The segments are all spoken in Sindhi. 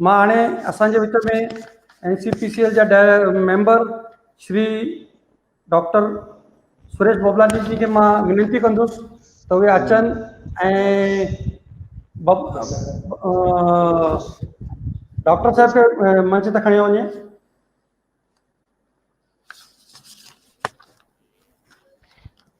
مان هاڻي اسان جي وچ ۾ N C P C L جا ميمبر شري ڊاڪٽر سريش ببلاڻي جي کي مان وينتي ڪندس ته اهي اچن ۽ ڊاڪٽر صاحب کي منچ ته کڻيو وڃي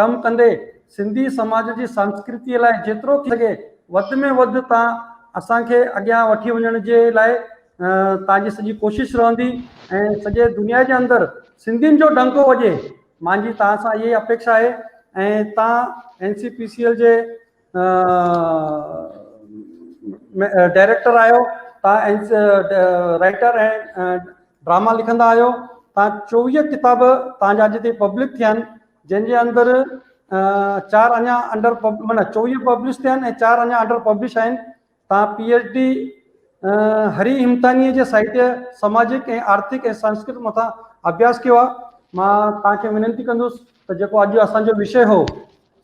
ڪم ڪندي سنڌي سماج جي سنسڪرتيء لاء جيترو ٿي سگهي وڌ ۾ وڌ تان اسان کي اڳيان وٺي وڃڻ جي لاء تان جي سڄي ڪوشش رهندي ۽ سڄي دنيا جي اندر سنڌين جو ڊنڪو وڄي مانجي تان سان اهي اپيڪشا آهي ۽ تان N C P C L جي ڊائريڪٽر آهيو تان رائٽر ۽ ڊراما لکندا آهيو تان چوويهه ڪتاب تان جا اڄ تي پبلڪ ٿيا آهن جنهن جي اندر چار اڃا انڊر معنيٰ چوويهه پبلش ٿيا آهن ۽ چار اڃا انڊر پبلش آهن تان پي ايڇ ڊي هري همتانيء جي ساهتيه سماجڪ ۽ آرٿڪ ۽ سنسڪرت مٿان اڀياس ڪيو آهي مان توهان کي وينتي ڪندس ته جيڪو اڄ اسان جو وشي هو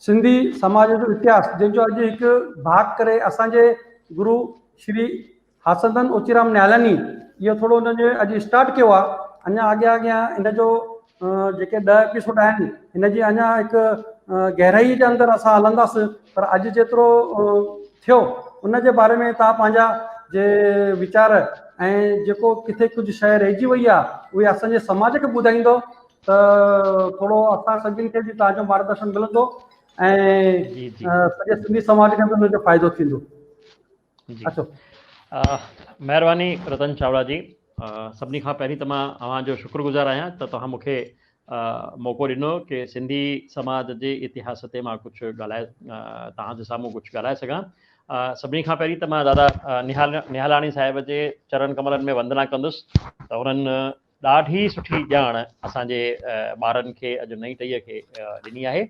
سنڌي سماج جو اتهاس جنهن جو اڄ هڪ ڀاڪ ڪري اسان جي گرو شري حسدن اوچيرام نيالني اهو ٿورو هن جو اڄ اسٽارٽ ڪيو آهي اڃا اڳيان اڳيان هن جو جيڪي ڏهه ايپيسوڊ آهن هن جي اڃا هڪ گهرائي جي اندر اسان هلنداس پر اڄ جيترو ٿيو ان جي باري ۾ تان پنهنجا جي ويچار ۽ جيڪو ڪٿي ڪجهه شيء رهجي وئي آ اهي اسان جي سماج کي ٻڌائيندو ته ٿورو اسان سڀني کي به تان جو مارگدرشن ملندو ۽ سڄي سنڌي سماج کي به ان جو فائدو ٿيندو جي مهرباني رتن چاوڙا جي سڀني کان پهرين ته مان اوهان جو شڪر گذار آهيان ته توهان مون کي موقعو ڏنو ڪي سنڌي سماج جي اتهاس تي مان ڪجهه ڳالهائي توهان جي سامهون ڪجهه ڳالهائي سگهان سڀني کان پهرين ته مان دادا نهال نهالاڻي صاحب جي چرن ڪملن ۾ وندنا ڪندس ته انهن ڏاڍي سٺي ڄاڻ اسان جي ٻارن کي اڄ نئين ٽهيء کي ڏني آهي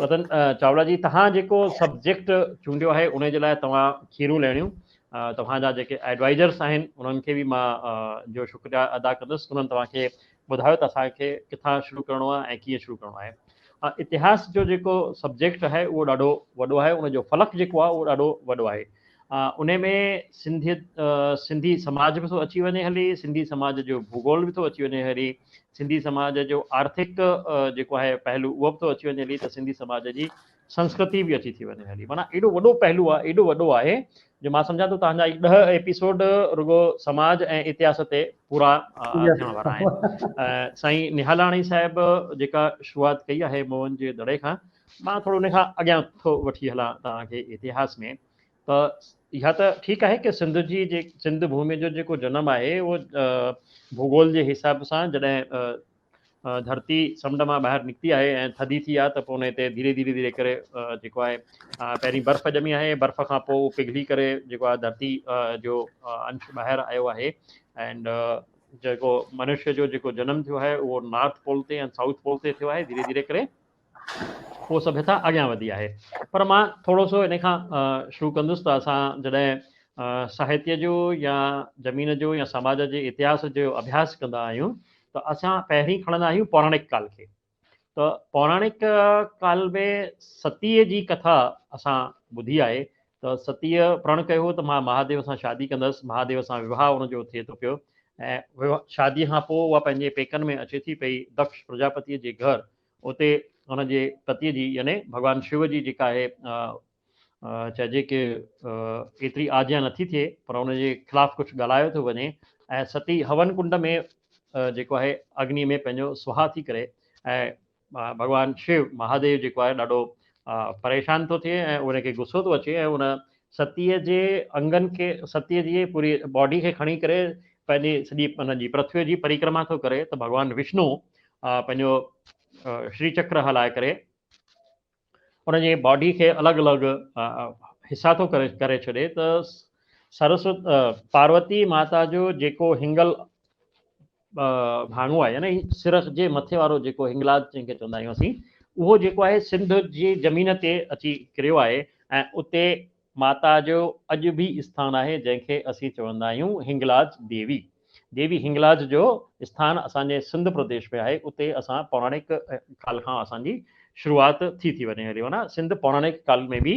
رتن چاولا جي تهان جيڪو سبجيڪٽ چونڊيو آهي ان جي لاء توهان کيرون لهڻيون توهان جا جيڪي ايڊوائزرس آهن انهن کي به مان جو شڪريا ادا ڪندس انهن توهان کي ٻڌايو ته اسان کي ڪٿان شروع ڪرڻو آهي ۽ ڪيئن شروع ڪرڻو آهي. اتهاس جو جيڪو سبجيڪٽ آهي اهو ڏاڍو وڏو آهي ان جو فلڪ جيڪو آهي اهو ڏاڍو وڏو آهي انهي ۾ سنڌيت سنڌي سماج به ٿو اچي وڃي هلي سنڌي سماج جو ڀوگول به ٿو اچي وڃي هلي سنڌي سماج جو آرٿڪ جيڪو آهي پهلو اهو به ٿو اچي وڃي هلي ته سنڌي سماج جي سنسڪرتي به اچي ٿي وڃي هلي معنيٰ ايڏو وڏو پهلو آهي ايڏو وڏو آهي جو مان سمجهان ٿو تهنجا هي ڏهه ايپيسوڊ رڳو سماج ۽ اتهاس تي پورا ٿيڻ وارا آهن سائين نهالاڻي صاحب جيڪا شروعات ڪئي آهي موهن جي دڙي کان مان ٿورو ان کان اڳيان ٿو وٺي هلان توهان کي اتهاس ۾ ته اها ته ٺيڪ آهي ڪي سنڌ جي سنڌ ڀومي جو جيڪو جنم آهي اهو ڀوگول جي حساب سان جڏهن ڌرتي سمنڊ مان ٻاهر نڪتي آهي ۽ ٿڌي ٿي آهي ته پوء ان تي ڌيري ڌيري ڌيري ڪري جيڪو آهي پهرين برف ڄمي آهي برف کان پوء پگهلي ڪري جيڪو آهي ڌرتي جو انش ٻاهر آيو آهي اينڊ جيڪو منشيء جو جيڪو جنم ٿيو آهي اهو نارٿ پول تي ۽ سائوٿ پول تي ٿيو آهي ڌيري ڌيري ڪري اهو سڀيتا اڳيان وڌي آهي پر مان ٿورو سو ان کان شروع ڪندس ته اسان جڏهن ساهتيه جو يا زمين جو يا سماج جي اتهاس جو اڀياس ڪندا آهيون ته اسان پهرين کڻندا آهيون پوراڻڪ ڪال کي ته پوراڻڪ ڪال ۾ ستيء جي ڪٿا اسان ٻڌي آهي ته ستيء پرڻ ڪيو هو ته مان مهاديو سان شادي ڪندس مهاديو سان وواهه ان جو ٿئي ٿو پيو ۽ شاديء کان پوء اها پنهنجي پيڪن ۾ اچي ٿي پئي دڪش پرجاپتيء جي گهر اتي هن جي پتيء جي يعني ڀڳوان شو جي جيڪا اهي چئجي ڪي ايتري آجيان نٿي ٿئي پر ان جي خلاف ڪجهه ڳالهايو ٿو وڃي ۽ ستي هون ڪنڊ ۾ جيڪو آهي اگني ۾ پنهنجو سوها ٿي ڪري ۽ ڀڳوان شو مهاديو جيڪو آهي ڏاڍو پريشان ٿو ٿئي ۽ ان کي غصو ٿو اچي ۽ ان ستيء جي انگن کي، ستيء جي پوري باڊي کي کڻي ڪري پنهنجي سڄي ان جي پرٿوي جي پريڪرما ٿو ڪري ته ڀڳوان وشنو پنهنجو شري چڪر هلائي ڪري ان جي باڊي کي الڳ الڳ حصا ٿو ڪري ڪري ڇڏي ته سرسوت پاروتي ماتا جو جيڪو هنگل ڀاڱو آهي يعني سرخ جي مٿي وارو جيڪو هنگلاج جنهن کي چوندا آهيون اسين اهو جيڪو آهي سنڌ جي زمين تي اچي ڪريو آهي ۽ اتي ماتا جو اڄ به اسٿان آهي جنهن کي اسين چوندا آهيون هنگلاج ديوي ديوي هنگلاج جو اسٿان اسان جي سنڌ پرديش ۾ آهي اتي اسان پوراڻڪ ڪال کان اسان جي شروعات ٿي ٿي وڃي هلي معنيٰ سنڌ پوراڻڪ ڪال ۾ به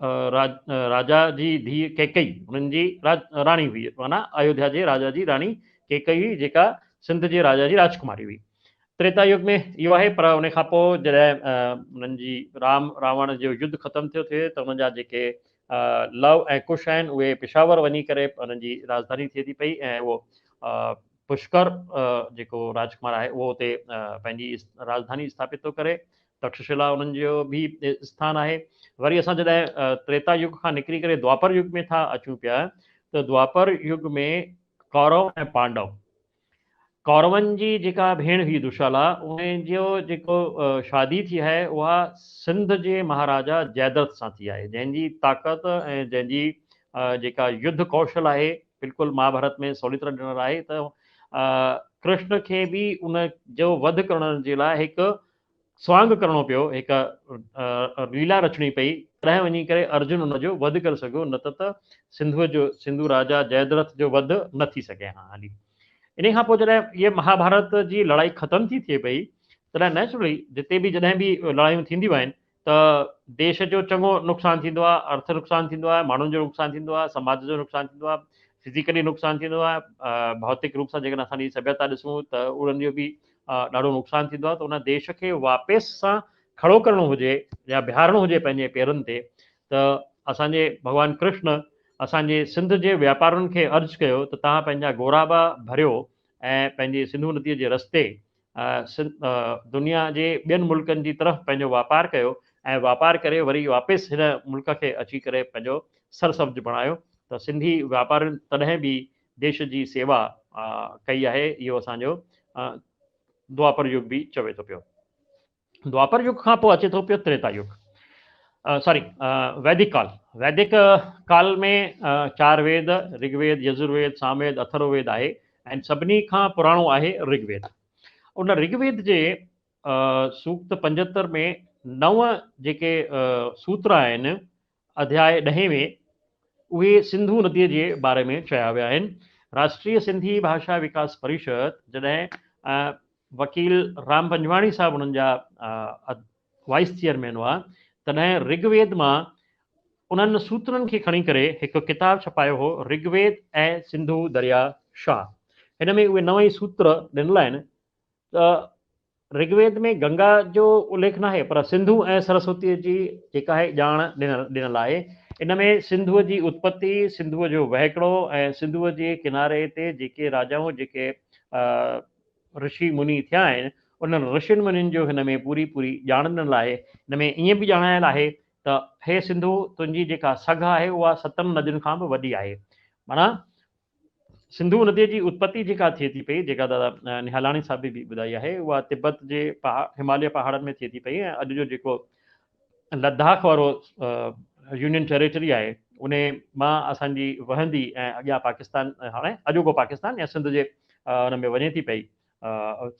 راجا جي ڌيء ڪيڪئي هن جي راڻي هئي معنيٰ ايوڌيا جي راجا جي راڻي ڪيڪئي هئي جيڪا سنڌ جي راجا جي راجڪماري هئي. تريتا يگ ۾ اهو آهي پر ان کان پوء جڏهن انهن جي رام راوڻ جو يڌ ختم ٿيو ٿئي ته انهن جا جيڪي لئو ۽ ڪش آهن اهي پشاور وڃي ڪري انهن جي راجڌاني ٿئي ٿي پئي ۽ اهو پشڪر جيڪو راجڪمار آهي اهو اتي پنهنجي راجڌاني اسٿاپت ٿو ڪري تڪششلا انهن جو به اسٿان آهي. وري اسان جڏهن تريتا يگ کان نڪري ڪري دوآپر يگ ۾ ٿا اچون پيا ته دوآپر يگ ۾ ڪورو ۽ پانڊو، ڪورون جي جيڪا ڀيڻ هئي دشالا انهي جو جيڪو شادي ٿي آهي اها سنڌ جي مهاراجا جئدرٿ سان ٿي آهي جنهن جي طاقت ۽ جنهن جي جيڪا يڌ ڪوشل آهي بلڪل مهاڀارت ۾ سولي طرح ڏنل آهي ته ڪرشن کي به ان جو وڌ ڪرڻ جي لاء هڪ سوانگ ڪرڻو پيو، هڪ ليلا رچڻي پئي، تڏهن وڃي ڪري ارجن ان جو وڌ ڪري سگهيو، نه ته ته سنڌوء جو، سنڌو راجا جئدرٿ جو وڌ نه ٿي سگهي ها. هلي انهيء کان پوء جڏهن هيء مهاڀارت جي لڙائي ختم ٿي ٿئي پئي، تڏهن نئچرلي جتي به جڏهن به لڙايون ٿينديون آهن، ته ديش جو چڱو نقصان ٿيندو آهي، ارٿ نقصان ٿيندو آهي، ماڻهن جو نقصان ٿيندو آهي، سماج جو نقصان ٿيندو آهي، فزيڪلي نقصان ٿيندو آهي، ڀوتڪ روپ سان جيڪڏهن اسان جي سڀيتا ڏسون ته انهن جو به ڏاڍو نقصان ٿيندو آهي ته ان ديش کي واپس سان کڙو ڪرڻو هجي يا بيهارڻو هجي پنهنجي پيرن تي ته اسان جي ڀڳوان ڪرشن اسان جي سنڌ جي واپارين کي عرض ڪيو ته توهان پنهنجا گورابا ڀريو ۽ پنهنجي سنڌو نديء جي رستي دنيا جي ٻين ملڪن جي طرف پنهنجو واپار ڪيو ۽ واپار ڪري وري واپس هن ملڪ کي اچي ڪري پنهنجو سر سبز بڻايو ته سنڌي واپارين تڏهن به ديش جي سيوا ڪئي آهي اهو اسان جو دوآپر يگ به چوي ٿو پيو. دوآپر يگ کان پوء اچي ٿو پيو تريتا يگ ساري ويدڪ ڪال ويدڪ ڪال ۾ چار ويد رگ ويد يزر ويد سام ويد اٿرو ويد آهي ۽ سڀني کان پراڻو آهي رگ ويد ان رگ ويد جي سوکت پنجهتر ۾ نو جيڪي سوتر آهن اڌياء ڏهين ۾ اهي سنڌو نديء جي باري ۾ چيا ويا آهن. راشٽريه سنڌي ڀاشا وڪاس پريشد جڏهن وڪيل رام پنجواڻي صاحب انهن جا وائيس چيئرمين هئا تڏهن رگ ويد مان انهن سوترن کي کڻي ڪري هڪ ڪتاب ڇپايو هو رگ ويد ۽ سنڌو دريا شاهه هن ۾ اهي نو ئي سوتر ڏنل آهن ته رگ ويد ۾ گنگا جو اليک ناهي پر سنڌو ۽ سرسوتيء جي جيڪا آهي ڄاڻ ڏنل آهي. ان ۾ سنڌوء جي اتپتي، سنڌوء جو وهڪرو ۽ سنڌوء جي ڪناري تي جيڪي راجائون جيڪي رشي مني ٿيا آهن انهن رشين منين جو هن ۾ پوري پوري ڄاڻ ڏنل آهي. ان ۾ ائين به ڄاڻايل آهي ته هي سنڌو تنهنجي جيڪا سگهه آهي اها ستن ندين کان به وڏي آهي. معنيٰ سنڌو نديء جي اتپتي جيڪا ٿئي ٿي پئي، جيڪا دادا نهالاڻي صاحب به ٻڌائي آهي، اها تبت جي هماليه پهاڙن ۾ ٿئي ٿي پئي ۽ اڄ جو جيڪو لداخ وارو يونين ٽيريٽري آهي، انهي مان اسان جي وهندي ۽ اڳيان پاڪستان هاڻي اڄوڪو پاڪستان يا سنڌ جي ان ۾ وڃي ٿي پئي.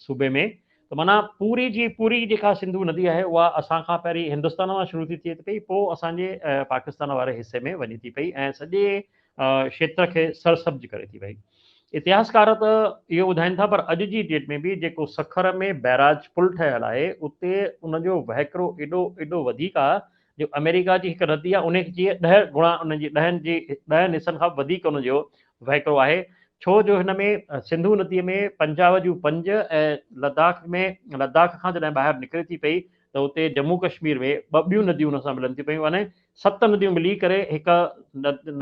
صوبي ۾ ته معنيٰ پوري جي پوري جيڪا سنڌو ندي آهي اها اسان کان پهرين هندستان مان شروع ٿي ٿئي ٿي پئي پوء اسان جي پاڪستان واري حصي ۾ وڃي ٿي پئي ۽ سڄي کيتر کي سرسبز ڪري ٿي پئي اتهاسڪار ته اهو ٻڌائين ٿا پر اڄ جي ڊيٽ ۾ به جيڪو سکر ۾ بئراج پل ٺهيل آهي اتي ان جو وهڪرو ايڏو ايڏو وڌيڪ آهي جو آمريڪا جي هڪ ردي آهي انهي جي ڏهه گڻا انهن جي ڏهن جي ڏهن حصن کان به وڌيڪ انهن جو وهڪرو آهي ڇو جو هن ۾ سنڌو ندي ۾ پنجاب جون پنج ۽ لداخ ۾ لداخ کان جڏهن ٻاهر نڪري ٿي پئي ته اتي جمو ڪشمير ۾ ٻه ٻيون نديون ان سان ملن ٿي پيون يعني ست نديون ملي ڪري هڪ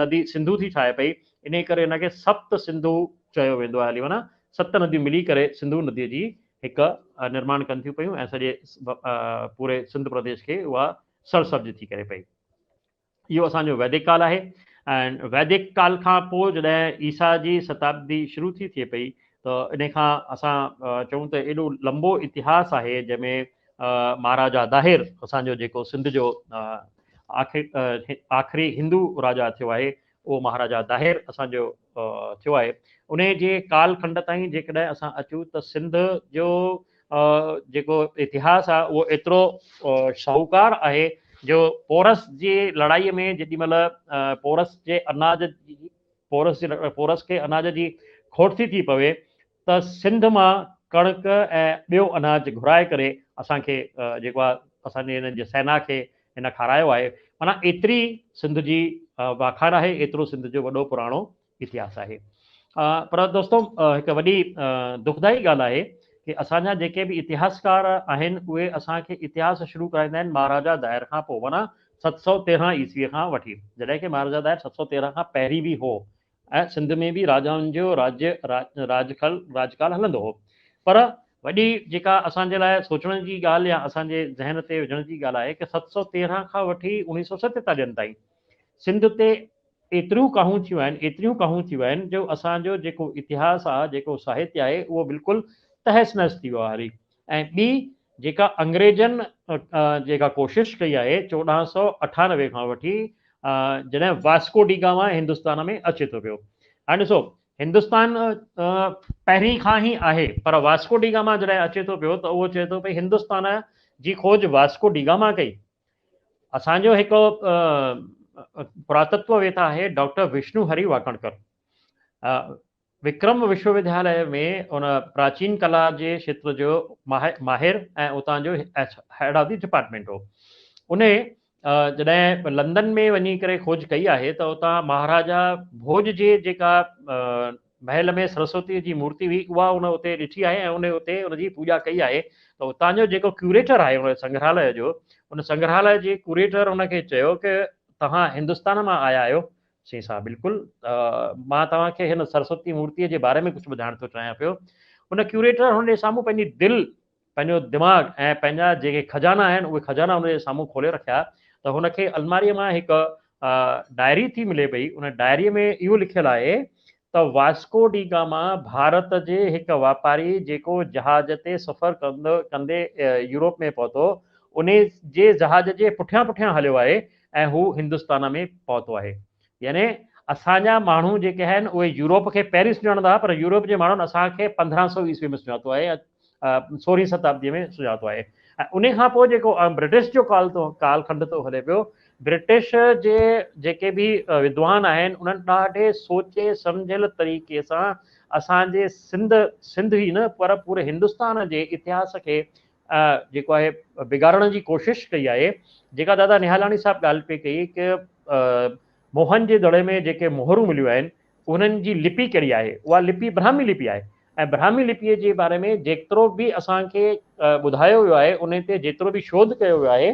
ندي سنڌو ٿي ٺاهي پئي انهي ڪري ان کي سپت سنڌو چيو ويندو آهي علي معنيٰ ست نديون ملي ڪري سنڌو ندي جي هڪ نرماڻ ڪن ٿيون پيون ۽ سڄي پوري سنڌ پرديش کي اها سر سبز ٿي ڪري پئي. اهو اسان جو ويدڪ ڪال آهي ۽ ويدڪ ڪال کان پوء جڏهن عيسيٰ جي شتابدي شروع ٿي ٿئي پئي ته ان کان اسان چئون ته ايڏو لنبو اتهاس آهي جنهن ۾ مهاراجا داهر اسان جو جيڪو سنڌ جو آخري هندو راجا ٿيو آهي اهو مهاراجا داهر اسان جو ٿيو آهي انهي جي ڪال کنڊ تائين جيڪڏهن اسان اچون ته سنڌ جو جيڪو اتهاس آهي اهو ايترو شاهوڪار آهي جو پورس جي لڙائي ۾ جيڏي مهل پورس جي اناج پورس جي پورس کي اناج جي کوٽ ٿي ٿي پوي ته سنڌ مان ڪڻڪ ۽ ٻيو اناج گهرائي ڪري اسان کي جيڪو آهي اسان جي هن جي سينا کي هن کارايو آهي معنيٰ ايتري سنڌ جي واکاڻ آهي ايترو سنڌ جو وڏو پراڻو اتهاس آهي پر دوستو هڪ وڏي دکدائي ڳالهه آهي ڪي اسان جا جيڪي به اتهاسڪار آهن اهي اسان کي اتهاس شروع ڪرائيندا آهن مهاراجا دائر کان پوء معنيٰ ست سؤ تيرهن عيسوي کان وٺي جڏهن ڪي مهاراجا دائر ست سؤ تيرهن کان پهرين به هو ۽ سنڌ ۾ به راجائن جو راڄ، راڄ کل، راڄ ڪال هلندو هو. پر وڏي جيڪا اسان جي لاء سوچڻ جي ڳالهه يا اسان جي ذهن تي وجهڻ جي ڳالهه آهي ڪه ست سؤ تيرنهن کان وٺي اوڻيهه سؤ ستيتاليهن تائين سنڌ تي ايتريون ڪاهون ٿيون آهن، ايتريون ڪاهون ٿيون آهن جو اسان جو جيڪو اتهاس آهي، جيڪو ساهتيه آهي اهو بلڪل تهس نهس ٿي ويو آهي. ۽ ٻي جيڪا انگريزن جيڪا ڪوشش ڪئي آهي چوڏهن سؤ اٺانوي کان وٺي جڏهن واسڪو ڊي گاما هندستان ۾ اچي ٿو پيو هاڻي ڏسو هندستان پهرين کان هي آهي پر واسڪو ڊي گاما جڏهن اچي ٿو پيو ته اهو چئي ٿو ڀئي هندستان جي کوج واسڪو ڊي گاما ڪئي اسان جو هڪ پراتتو ويتا آهي ڊاڪٽر وشنو هري واڪڻڪر وڪرم وشوودياليه ۾ هن پراچين ڪلا جي کيتر جو ماهر ۽ اتان جو هيڊ آف دي ڊپارٽمينٽ هو. انهي جڏهن لندن ۾ وڃي ڪري کوج ڪئي آهي ته اتان مهاراجا ڀوڄ جي جيڪا محل ۾ سرسوتيء جي مورتي هئي اها هن اتي ڏٺي آهي ۽ انهي اتي ان جي پوڄا ڪئي آهي ته اتان جو جيڪو ڪيوريٽر آهي ان سنگرهاليه جو ان سنگرهاليه جي ڪوريٽر ان کي چيو ته توهان هندستان مان آيا آهيو سين صاحب بلڪل مان توهان کي هن سرسوتي مورتي جي باري ۾ ڪجهه ٻڌائڻ ٿو چاهيان پيو ان ڪيوريٽر هن جي سامهون پنهنجي دل پنهنجو دماغ ۽ پنهنجا جيڪي خزانا آهن اهي خزانا هن جي سامهون کولي رکيا ته هن کي الماري مان هڪ ڊائري ٿي ملي پئي ان ڊائري ۾ اهو لکيل آهي ته واسڪو ڊي گاما ڀارت جي هڪ واپاري جيڪو جهاز تي سفر ڪندو ڪندي يورپ ۾ پهتو انهي جي جهاز جي پٺيان پٺيان هليو آهي ۽ هو هندستان ۾ پهتو آهي يعني اسان جا ماڻهو جيڪي آهن اهي يورپ کي پئرس سڃاڻندا هئا پر يورپ جي ماڻهن اسان کي پندرهن سو عيسوي ۾ سڃاتو آهي ۽ سورهين ستابديء ۾ سجاتو آهي ۽ انهي کان پوء جيڪو برٽش جو ڪال ٿو ڪال کنڊ ٿو هلي پيو برٽش جي جيڪي به ودوان آهن انهن ڏاڍي سوچي سمجهيل طريقي سان اسان جي سنڌ سنڌ ئي نه پر پوري هندستان جي اتهاس کي جيڪو آهي بگاڙڻ جي ڪوشش ڪئي آهي جيڪا دادا نهالاڻي صاحب ڳالهه پئي ڪئي ڪه موهن جي دڙي ۾ جيڪي مهرون مليون آهن انهن جي لپي ڪهڙي آهي؟ اها لپي برهمي لپي آهي ۽ برهمي لپيء جي باري ۾ جيترو به اسان کي ٻڌايو ويو آهي، انهي تي جيترو به شوڌ ڪيو ويو آهي،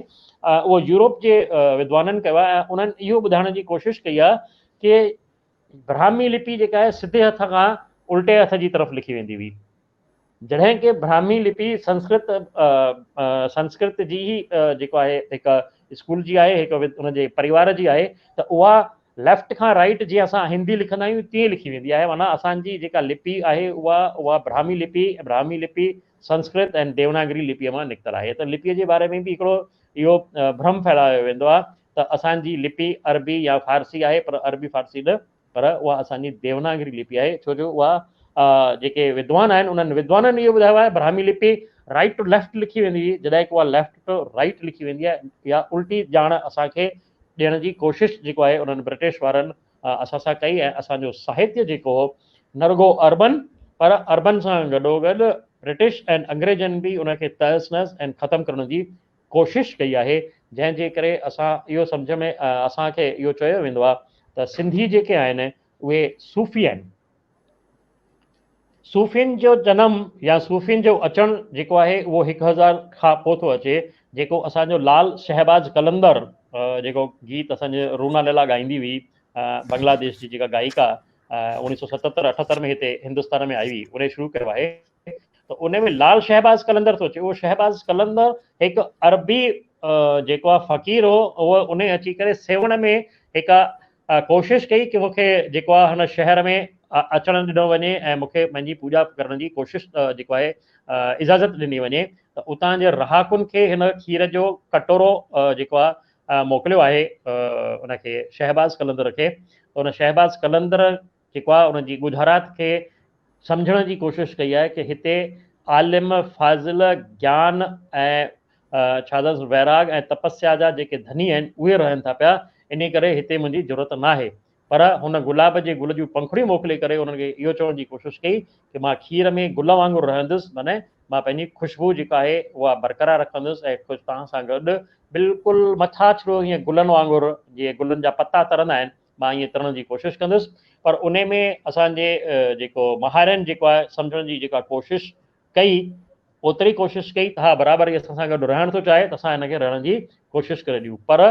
اهو يورپ جي ودوانن ڪيو آهي ۽ انهن اهو ٻڌائڻ جي ڪوشش ڪئي آهي ڪي برهمي لپي جيڪا آهي سڌي هٿ کان الٽي هٿ جي طرف لکي ويندي هئي. جڏهن ڪي براهمي لپي سنسڪرت سنسڪرت جي ئي جيڪو آهي هڪ اسڪول جي آهي هڪ ان جي پريوار جي آهي ته اها ليفٽ کان رائيٽ جيئن اسان هندي لکندا آهيون تيئن لکي ويندي آهي معنيٰ اسان جي جيڪا لپي آهي اها اها براهمي لپي براهمي لپي سنسڪرت ۽ ديوناگري لپيء مان نڪتل آهي ته لپيء جي باري ۾ به هڪڙو اهو برهم ڦهلايو ويندو آهي ته اسان جي لپي عربي يا فارسي آهي پر عربي فارسي نه پر اها اسان جي ديوناگري لپي آهي ڇو جو اها جيڪي ودوان آهن انهن ودوانن اهو ٻڌايو آهي براهمي لپي رائٽ ٽو ليفٽ لکي ويندي هئي جڏهن ڪو اها ليفٽ ٽو رائٽ لکي ويندي آهي اها الٽي ڄاڻ اسان کي ڏيڻ جي ڪوشش جيڪو آهي انهن برٽش وارن اسان سان ڪئي ۽ اسان جو ساهتيه جيڪو هو نه رڳو اربن پر اربن سان گڏو گڏ برٽش ۽ انگريزن به ان کي تهس نهس ۽ ختم ڪرڻ جي ڪوشش ڪئي آهي جنهن جي ڪري اسان اهو سمجهه ۾ اسان کي اهو چيو ويندو آهي ته سنڌي جيڪي آهن اهي صوفي آهن. صوفين جو جنم يا صوفين جو اچڻ جيڪو آهي اهو هڪ هزار کان پوء ٿو اچي جيڪو اسان جو لال شهباز قلندر جيڪو گيت اسان جي رونا ليلا ڳائيندي هئي بنگلاديش جي جيڪا گائيڪا اوڻيهه سؤ ستهتر اٺهتر ۾ هتي هندستان ۾ آئي هئي انهي شروع ڪيو آهي. ته ان ۾ لال شهباز قلندر ٿو اچي، اهو شهباز قلندر هڪ عربي جيڪو آهي فقير هو، اهو ان اچي ڪري سيوهڻ ۾ هڪ ڪوشش ڪئي ڪي مون کي جيڪو آهي هن شهر ۾ اچڻ ڏنو وڃي ۽ مون کي پنهنجي پوڄا ڪرڻ جي ڪوشش جيڪو آهي اجازت ڏني وڃي ته اتان جي رهاڪن کي هن کير جو ڪٽورو جيڪو آهي موڪليو آهي ان کي شهباز قلندر کي ان شهباز قلندر جيڪو آهي ان جي ڳجهارات کي سمجهڻ جي ڪوشش ڪئي آهي ڪي هتي عالم فاضل گيان ۽ ڇا اٿس ويراڳ ۽ تپسيا جا جيڪي ڌني آهن اهي رهن ٿا پيا انهي ڪري هتي منهنجي جرئت ناهي پر هن گلاب جي گل جون پنکڙيون موڪلي ڪري انهن کي اهو چوڻ جي ڪوشش ڪئي ڪي مان کير ۾ گل وانگر رهندس معنيٰ مان پنهنجي خوشبو جيڪا آهي اها برقرار رکندس ۽ خوش توهان سان گڏ بلڪل مٿاڇرو هيئن گلن وانگر جيئن گلن جا پتا ترندا آهن مان ائين ڪرڻ جي ڪوشش ڪندس پر ان ۾ اسان جي جيڪو ماهرن جيڪو آهي سمجهڻ جي جيڪا ڪوشش ڪئي اوتري ڪوشش ڪئي ته ها برابر هي اسان سان گڏ رهڻ ٿو چاهي ته اسان هن کي رهڻ جي ڪوشش ڪري ڏيون پر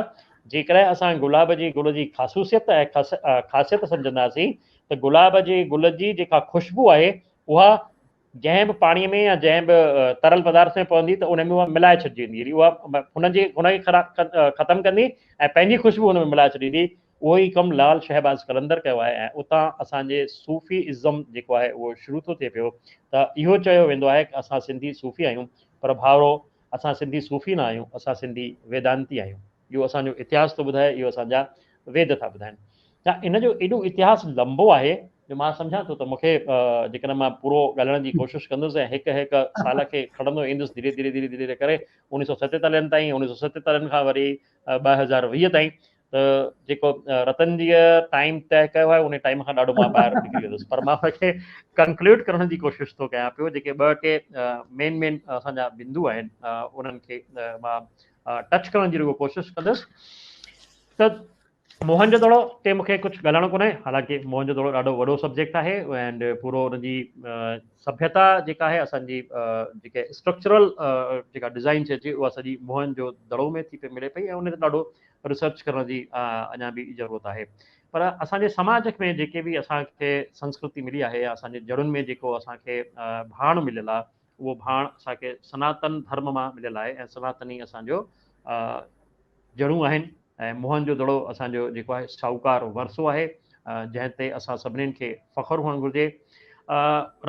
جيڪڏهن اسان گلاب جي گل جي خاصوصيت ۽ خاصيت سمجهنداسين ته گلاب جي گل جي جيڪا خوشبو آهي اها جنهن به پاڻيء ۾ يا جنهن به ترل پدارٿ ۾ پوندي ته ان ۾ اها ملائي ڇڏجي ويندي يعني اها هن جي هن کي ختم ڪندي ۽ پنهنجي خوشبو هن ۾ ملائي ڇڏيندي اهو ئي ڪم لال شهباز قلندر ڪيو آهي ۽ اتان اسان جي صوفي ازم جيڪو آهي اهو شروع ٿو ٿئي پيو ته اهو چيو ويندو آهي ته اسان سنڌي صوفي آهيون پر ڀائرو اسان سنڌي صوفي نه آهيون اسان سنڌي ويدانتي آهيون. جو اسان جو اتهاس ٿو ٻڌائي اهو اسان جا ويد ٿا ٻڌائين ڇا ان جو ايڏو اتهاس لنبو آهي جو مان سمجهان ٿو ته مون کي جيڪڏهن مان پورو ڳالهائڻ جي ڪوشش ڪندس ۽ هڪ هڪ سال کي کڻندو ايندس ڌيري ڌيري ڌيري ڌيري ڪري انيس سو ستيتاليهن تائين انيس سو ستيتاليهن کان وري ٻه هزار ويهه تائين ته جيڪو رتن جي ٽائيم طئي ڪيو آهي ان ٽائيم کان ڏاڍو مان ٻاهر نڪري ويندس پر مان ان کي ڪنڪلوڊ ڪرڻ جي ڪوشش ٿو ڪيان پيو جيڪي ٻه ٽي مين مين اسان جا بندو آهن انهن کي مان ٽچ ڪرڻ جي رڳو ڪوشش ڪندس ته موهن جو دڙو تي مونکي ڪجهه ڳالهائڻو ڪونهي حالانڪه موهن جو دڙو ڏاڍو وڏو سبجيڪٽ آهي اينڊ پورو ان جي سڀيتا جيڪا آهي اسان جي جيڪا اسٽرڪچرل جيڪا ڊزائن چئجي اها سڄي موهن جو دڙو ۾ ٿي پئي ملي پئي ۽ ان تي ڏاڍو ريسرچ ڪرڻ جي اڃا به ضرورت آهي پر اسان جي سماج ۾ جيڪي به اسان کي سنسڪرتي ملي آهي يا اسان جي جڙن ۾ جيڪو اسان کي ڀاڻ مليل آهي اهو ڀاڻ اسان کي سناتن ڌرم مان مليل آهي ۽ سناتن ئي اسان جو جڙون آهن ۽ موهن جو دڙو اسان جو جيڪو آهي شاهوڪار ورثو آهي جنهن تي اسان سڀنين کي فخر هئڻ گهرجي.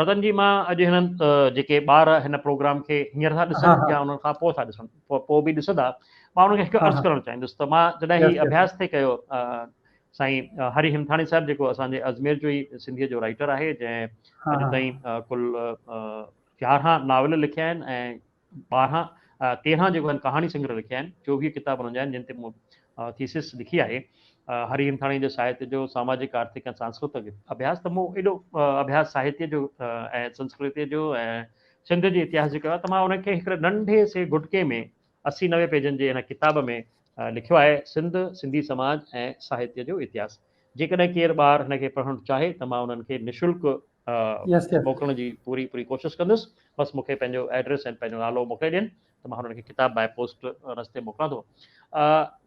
رتن جي مان اڄ هنن جيڪي ٻار هن پروگرام کي هينئر ٿا ڏسن يا انهن کان پوء ٿا ڏسن پوء به ڏسندا مان انهن کي هڪ عرض ڪرڻ چاهيندس ته مان جڏهن هي اڀياس ٿي ڪيو سائين هري همٿاڻي صاحب جيڪو اسان جي اجمير جو ئي سنڌيء جو رائيٽر آهي جنهن اڄ تائين ڪل يارهن ناول لکيا آهن ۽ ٻارهن تيرهن جيڪو آهن ڪهاڻي سنگرهه لکيا آهن چوويهه ڪتاب هنن جا آهن جن تي مون ٿيسس لکي آهي هري همٿاڻي جي ساهتيه جو ساماجڪ آرٿڪ ۽ سانسڪرتڪ اڀياس ته مون ايڏو اڀياس ساهتيه جو ۽ سنسڪرتي جو ۽ سنڌ جي اتهاس جو ڪيو آهي ته مان ان کي هڪڙي ننڍي سي گهٽڪي ۾ اسي نوي پيجن جي هن ڪتاب ۾ لکيو آهي سنڌ، سنڌي سماج ۽ ساهتيه جو اتهاس. جيڪڏهن ڪير ٻار هن کي پڙهڻ چاهي ته مان انهن کي نشلڪ موڪلڻ جي پوري پوري ڪوشش ڪندس. بس مون کي پنهنجو ايڊريس ۽ پنهنجو نالو موڪلي ڏين ته مان هنن کي ڪتاب باء پوسٽ رستي موڪلان ٿو.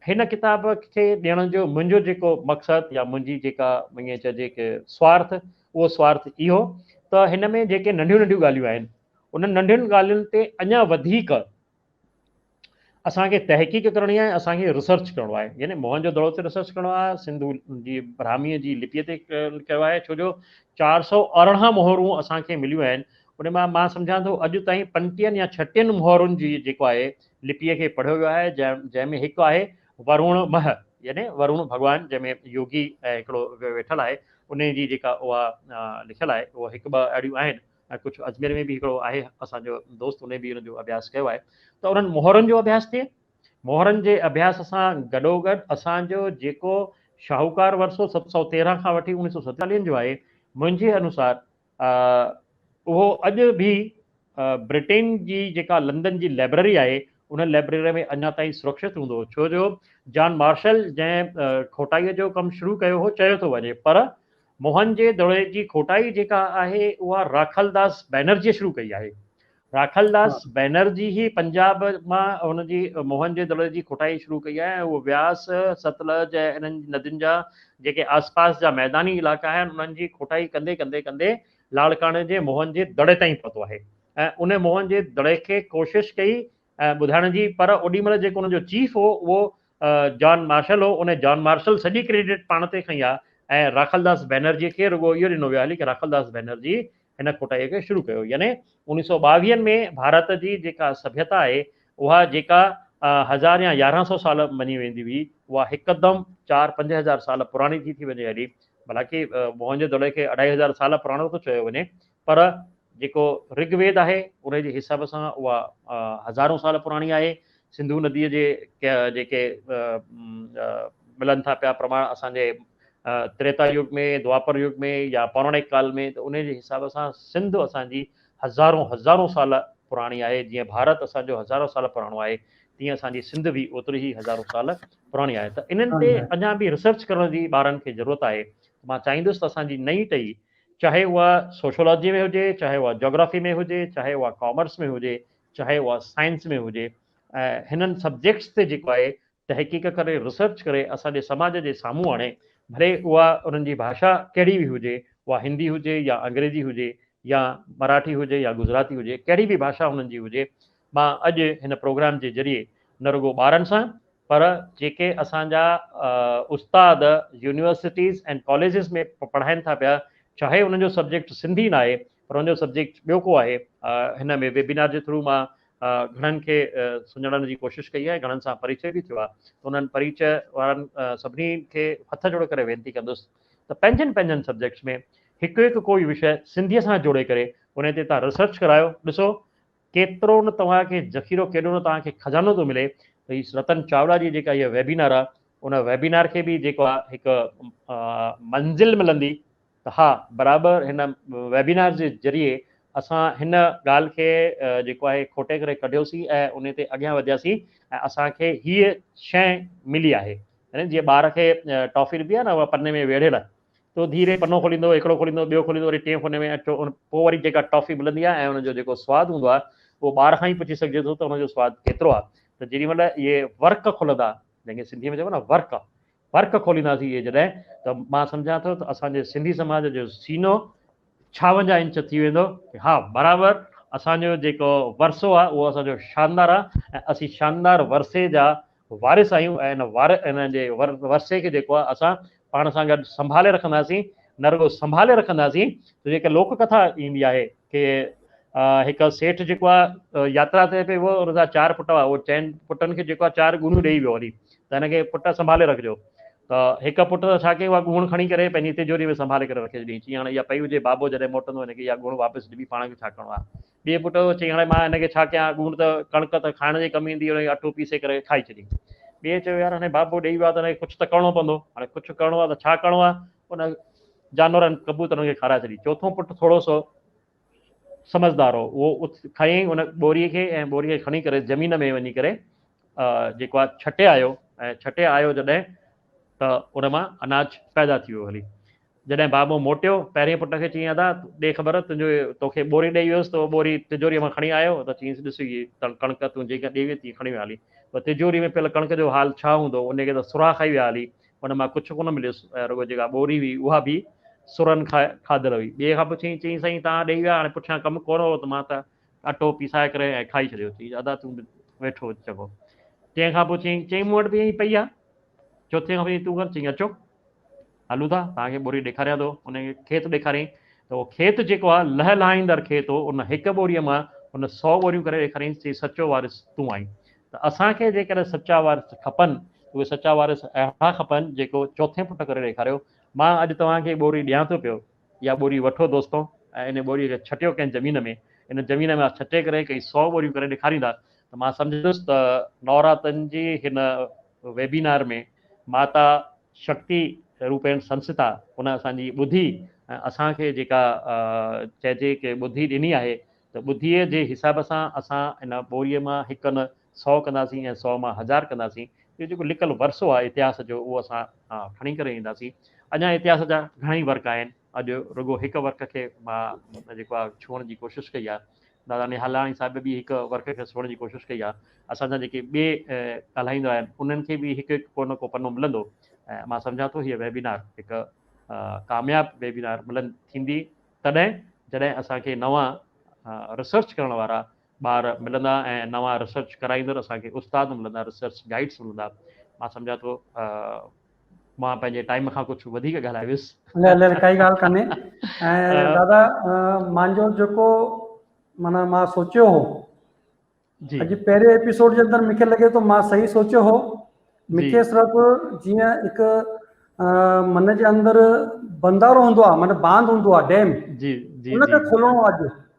هن ڪتاب کي ڏيڻ جو منهنجو جيڪو مقصد يا منهنجي جيڪا ائين چئجي ڪه سوارٿ اهو سوارٿ اهو ته هن ۾ جيڪي ننڍيون ننڍيون ڳالهيون آهن انهن ننڍين ڳالهين تي اڃا وڌيڪ اسان کي تحقيق ڪرڻي آهي اسان کي ريسرچ ڪرڻو آهي يعني موهن جو دڙو تي ريسرچ ڪرڻو آهي سنڌو جي براهمي جي لپي تي ڪيو آهي ڇو جو چار سو ارڙهن مهرون اسان کي مليون آهن ان مان مان سمجھان ٿو اڄ تائين پنجٽيهن يا ڇهٽيهن مهرن جي جيڪو آهي لپي کي پڙهيو ويو آهي جنهن جنهن ۾ هڪ آهي ورون مه يعني ورون ڀڳوان جنهن ۾ يوگي هڪڙو ويٺل آهي ان جي جيڪا اها لکيل آهي اها هڪ ٻه اهڙيون آهن ۽ ڪجهه اجمير ۾ به هڪڙو آهي اسان جو دوست انهن به ان جو اڀياس ڪيو آهي ته انهن مهرن جو اڀياس ٿئي مهرن جي اڀياس سان گڏوگڏ اسان جو جيڪو شاهوڪار ورثو ست سؤ تيرهن کان وٺي اڻيهه سؤ ستيتاليهن جو آهي منهنجي انوسار اهو اڄ به برٽين جي جيڪا لندن جي لئبرري آهي ان لئبرري ۾ اڃا تائين سرڪشت هوندو ڇو جو جان مارشل جنهن کوٽائي جو ڪم شروع ڪيو هو چيو ٿو وڃي پر موهن جي دڙوي جي کوٽائي جيڪا آهي اها راکل داس بئنرجيء شروع ڪئي آهي. راکل داس بئنرجي ئي پنجاب مان هن جي موهن جي دڙوي جي کوٽائي شروع ڪئي آهي ۽ هو وياس، ستلج ۽ انهن ندين جا جيڪي آسپاس جا ميداني علائقا آهن انهن جي کوٽائي ڪندي ڪندي ڪندي لاڙڪاڻي جي موهن جي دڙي تائين پهتو آهي ۽ ان موهن جي دڙي کي ڪوشش ڪئي ٻڌائڻ جي پر اوڏي مھل جيڪو انھن جو چيف ھو اھو جان مارشل ھو انھي جان مارشل سڄي ڪريڊٽ پاڻ تي کنئي آ ۽ راکل داس بئنرجي کي رڳو اھو ڏنو ويو آ ھلي ڪي راکل داس بئنرجي ھن کوٽائي کي شروع ڪيو يعني اوڻيھ سئو ٻاويھن ۾ ڀارت جي جيڪا سڀيتا آھي اھا جيڪا ھزار يا يارھن سئو سال مڃي ويندي ھئي اھا ھڪدم چار پنج ھزار سال پراڻي ٿي ٿي وڃي ھلي ڀلا ڪي موھن جو دڙي کي اڍائي ھزار سال پراڻو ٿو چيو وڃي پر جيڪو رگ ويد آهي انهي جي حساب سان اها هزارون سال پراڻي آهي. سنڌو نديء جي جيڪي ملن ٿا پيا پرماڻ اسان جي تريتا يگ ۾ دوآپر يگ ۾ يا پوراڻڪ ڪال ۾ ته انهي جي حساب سان سنڌ اسان جي هزارون هزارون سال پراڻي آهي جيئن ڀارت اسان جو هزارون سال پراڻو آهي تيئن اسان جي سنڌ به اوتري ئي هزارون سال پراڻي آهي ته انهن تي اڃا به ريسرچ ڪرڻ جي ٻارن کي ضرورت آهي مان چاهيندس ته اسان جي نئين ٽهي چاهي اها سوشيالاجي ۾ هجي، چاهي اها جاگرافي ۾ هجي، چاهي اها ڪامرس ۾ هجي، چاهي اها سائنس ۾ هجي ۽ هنن سبجيڪٽس تي جيڪو آهي تحقيق ڪري ريسرچ ڪري اسان جي سماج جي سامهون آڻي ڀلي اها انهن جي ڀاشا ڪهڙي به هجي اها هندي هجي يا انگريزي هجي يا مراٺي هجي يا گجراتي هجي ڪهڙي به ڀاشا انهن جي هجي مان اڄ هن پروگرام جي ذريعي نه رڳو ٻارن سان پر جيڪي اسان جا استاد يونيورسٽيز ۽ ڪاليجز ۾ پڙهائين ٿا پيا چاهي انهن جو سبجيڪٽ سنڌي نه آهي پر انهن جو سبجيڪٽ ٻيو ڪو آهي هن ۾ ويبينار جي ٿرو مان گهڻن کي سڃاڻڻ جي ڪوشش ڪئي آهي گهڻن سان پريچئ به ٿيو آهي ته انهن پريچئ وارن سڀني کي هٿ جوڙي ڪري وينتي ڪندس ته پنهنجن پنهنجن سبجيڪٽس ۾ هڪ هڪ ڪوئي وشيه سنڌيء سان جوڙي ڪري انهي تي تهان ريسرچ ڪرايو ڏسو ڪيترو نه توهان کي ذخيرو ڪيڏو نه توهان کي خزانو ٿو ملي ته هي رتن چاولا جي جيڪا هيء ويبينار آ ان ويبينار کي به جيڪو آ هڪ منزل ملندي ته ها برابر هن ويبينار جي ذريعي اسان هن ڳالهه کي جيڪو آهي کوٽي ڪري ڪڍيوسين ۽ انهي تي اڳيان وڌياسين ۽ اسان کي هيء شئي ملي آهي يعني جيئن ٻار کي ٽافي ڏبي آ نه اها پني ۾ ويڙهيل تو ڌيري پنو کوليندو هڪڙو کوليندو ٻيو کوليندو وري ٽئين فوني ۾ اچو ان پوء وري جيڪا ٽافي ملندي آهي ۽ ان جو جيڪو سواد هوندو آهي اهو ٻار کان ئي پڇي سگهجي ٿو ته ان جو سواد ڪيترو آهي ته جيڏي مهل اهي ورق کلندا جنهن کي سنڌي ۾ چئبو آهي نه ورق ورق کولينداسين اهي جڏهن ته مان سمجهان ٿو ته اسان جي سنڌي سماج جو سينو ڇاونجاهه انچ ٿي ويندو ها برابر اسان جو جيڪو ورثو آهي اهو اسان جو شاندار آهي ۽ اسين شاندار ورثي جا وارث آهيون ۽ ان وار ان جي ور ورثي کي جيڪو آهي اسان پاڻ سان گڏ سنڀالي رکنداسين نه رڳو سنڀالي رکنداسين ته جيڪا لوڪ ڪٿا ايندي آهي ڪي هڪ سيٺ جيڪو آهي ياترا تي پئي ويو ان جا چار پٽ هئا اهو چئن پٽن کي جيڪو آهي چار ڳوڻيون ڏيئي ويو هلي ته هن کي پٽ سنڀالي رکجو ته هڪ پٽ ڇا ڪيو اها ڳوڻ کڻي ڪري پنهنجي تجوري ۾ سنڀالي ڪري رکي ڇڏي چيائين هاڻي اها پئي هجي بابو جڏهن موٽندو هن کي اها ڳوڻ واپس ڏبي پاڻ کي ڇا ڪرڻو آهي ٻئي پٽ چيائين، هاڻي مان هن کي ڇا ڪيان، ڳوڻ ته ڪڻڪ ته کائڻ جي ڪم ايندي، هن کي اٽو پيسي ڪري کائي ڇڏين. ٻئي چيو، يار هاڻي بابو ڏيئي ويو آهي ته هن کي ڪجهه ته ڪرڻو پوندو، هاڻي ڪجهه ڪرڻو آهي ته ڇا ڪرڻو آهي، ان جانورن ڪبوترن کي کارائي ڇڏين. چوٿون پٽ ٿورو سو سمجهدار هو، اهو کيائين ان ٻوري کي ۽ ٻوري کي کڻي ڪري زمين ۾ وڃي ڪري جيڪو آهي ڇٽي آيو ۽ ڇٽي آيو جڏهن ته ان مان اناج پيدا ٿي ويو هلي. جڏهن بابو موٽيو، پهرئين پٽ کي چيائين، ادا، ڏي خبر، تنهنجو تو کي ٻوري ڏيئي ويس، تو ٻوري تجوريء مان کڻي آيو؟ ادا چيس، ڏس هيء ڪڻڪ تون جيئن ڏيئي ويئي، تيئن کڻي ويا هلي. پر تجوريء ۾ پيل ڪڻڪ جو حال ڇا هوندو؟ ان کي ته سرها کائي ويا هلي. ان مان ڪجهه ڪونه مليس ۽ رڳو جيڪا ٻوري هئي، اها به سرهن کان کاڌل هئي. ٻئي کان پڇيائين، چيائين، سائين، توهان ڏيئي ويا، هاڻي پٺيان ڪم ڪونه هو، ته مان ته اٽو پيسائي ڪري ۽ کائي ڇڏيو. چيس، ادا، تون به ويٺو هج چڱو. ٽئين کان پڇيائين، چيائين، مون وٽ به ائين ئي پئي آهي. چوٿين کان پوء تون ڪر چيائين اچو هلون ٿا توهان کي ٻوري ڏيکاريان ٿو ان کي کيت ڏيکاريائين ته اهو کيت جيڪو آهي لهلهائيندڙ کيت هو ان هڪ ٻوريء مان هن سؤ ٻوريون ڪري ڏيکاريائين چيائين سچو وارث تون آهين ته اسان کي جيڪڏهن سچا وارث کپن ته اهي سچا وارث اهڙا کپن جيڪو چوٿين پٽ ڪري ڏيکاريو مان اڄ توهان کي ٻوري ڏيان ٿو پيو اها ٻوري وٺو دوستو ۽ ان ٻوريء کي ڇٽيو ڪنهن زمين ۾ ان زمين ۾ ڇٽي ڪري ڪنهن سؤ ٻوريون ڪري ڏيکاريندا ته مان سمجهندس ته نوراتن جي هن ويبينار ۾ ماتا شڪتي روپين سنسٿا ان اسان جي ٻڌي ۽ اسان کي جيڪا چئجي ڪي ٻڌي ڏني آهي ته ٻڌيء جي حساب سان اسان ان ٻوريء مان هڪ نه سو ڪنداسين ۽ سو مان هزار ڪنداسين. اهو جيڪو لڪل ورثو آهي اتهاس جو اهو اسان کڻي ڪري اينداسين. اڃا اتهاس جا گهڻا ئي ورق آهن. اڄ رڳو هڪ ورق کي مان جيڪو آهي ڇهڻ جي ڪوشش ڪئي آهي. دادا نهالاڻي صاحب به هڪ ورق کي سوڙهڻ جي ڪوشش ڪئي آهي. اسان جا جيڪي ٻئي ڳالهائيندو آهن انهن کي به هڪ هڪ ڪو نه ڪو پنو ملندو ۽ مان سمجهان ٿو هيء ويبينار هڪ ڪامياب ويبينار ملند ٿيندي تڏهن جڏهن اسان کي نوان ريسرچ ڪرڻ وارا ٻار ملندا ۽ نوان ريسرچ ڪرائيندڙ اسان کي استاد ملندا ريسرچ گائيڊس ملندا مان سمجهان ٿو مان پنهنجي ٽائيم کان ڪجهه وڌيڪ ڳالهائي ويس. نه نه ڪائي ڳالهه ڪانهي ۽ دادا مانجو جيڪو مانا مان سوچيو هو جي اڄ پهرين ايپيسوڊ جي اندر مونکي لڳي ٿو مان صحيح سوچيو هو مونکي صرف جيئن هڪ من جي اندر بندارو هوندو آهي معنيٰ باند هوندو آهي ڊيم جي جي ان کي کولڻو آهي اڄ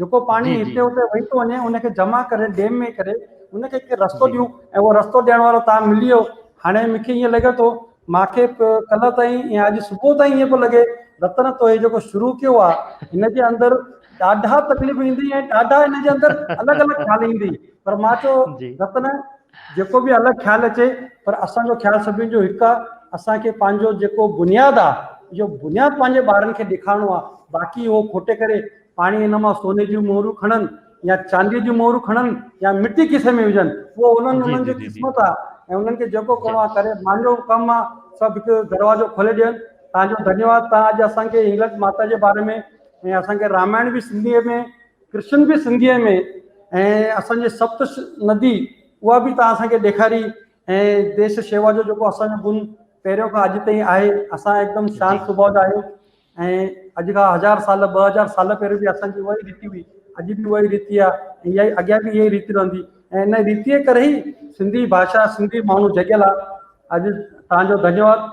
جيڪو پاڻي هتي هتي وهي ٿو وڃي ان کي جمع ڪري ڊيم ۾ ڪري ان کي ڪي رستو ڏيون ۽ اهو رستو ڏيڻ وارو تان ملي ويو هاڻي مونکي ائين لڳي ٿو مونکي ڪلهه تائين يا اڄ صبح تائين ائين پيو لڳي رتن تو هي جيڪو شروع ڪيو آ هن جي اندر ڏاڍا تڪليف ايندي ۽ ڏاڍا هن جي اندر الڳ الڳ خيال ايندي پر مان چو رتن جيڪو به الڳ خيال اچي پر اسان جو خيال سڀني جو هڪ آ اسان کي پنهنجو جيڪو بنياد آ جو بنياد پنهنجي ٻارن کي ڏيکارڻو آ باقي هو کوٽي ڪري پاڻي ان مان سوني جون مهرون کڻن يا چانديء جون مهرون کڻن يا مٽي کيسي ۾ وجهن اهو انهن انهن جي قسمت آ ۽ انهن کي جيڪو ڪرڻو آ ڪري مانجو ڪم آ سڀ هڪ دروازو کولي ڏين توهان جو ڌنيواد توهان اڄ اسان کي هنگلج ماتا جي باري ۾ ۽ اسان کي رامائڻ به سنڌيء ۾ ڪرشن به سنڌيء ۾ ۽ اسان جي سپت ندي اها به توهان اسان کي ڏيکاري ۽ ديش شيوا جو جيڪو اسان جو گن پهريون کان اڄ تائين آهي اسان هڪدم شانت سڀاء جا آهيون ۽ اڄ کان هزار سال ٻه هزار سال پهريون به اسان جي اها ئي ريتي هئي اڄ به اها ئي ريتي آ ۽ اها ئي اڳيان به اها ئي ريتي رهندي ۽ ان ريتي ڪري ئي سنڌي ڀاشا سنڌي ماڻهو جڳيل آ اڄ توهان جو ڌنيواد.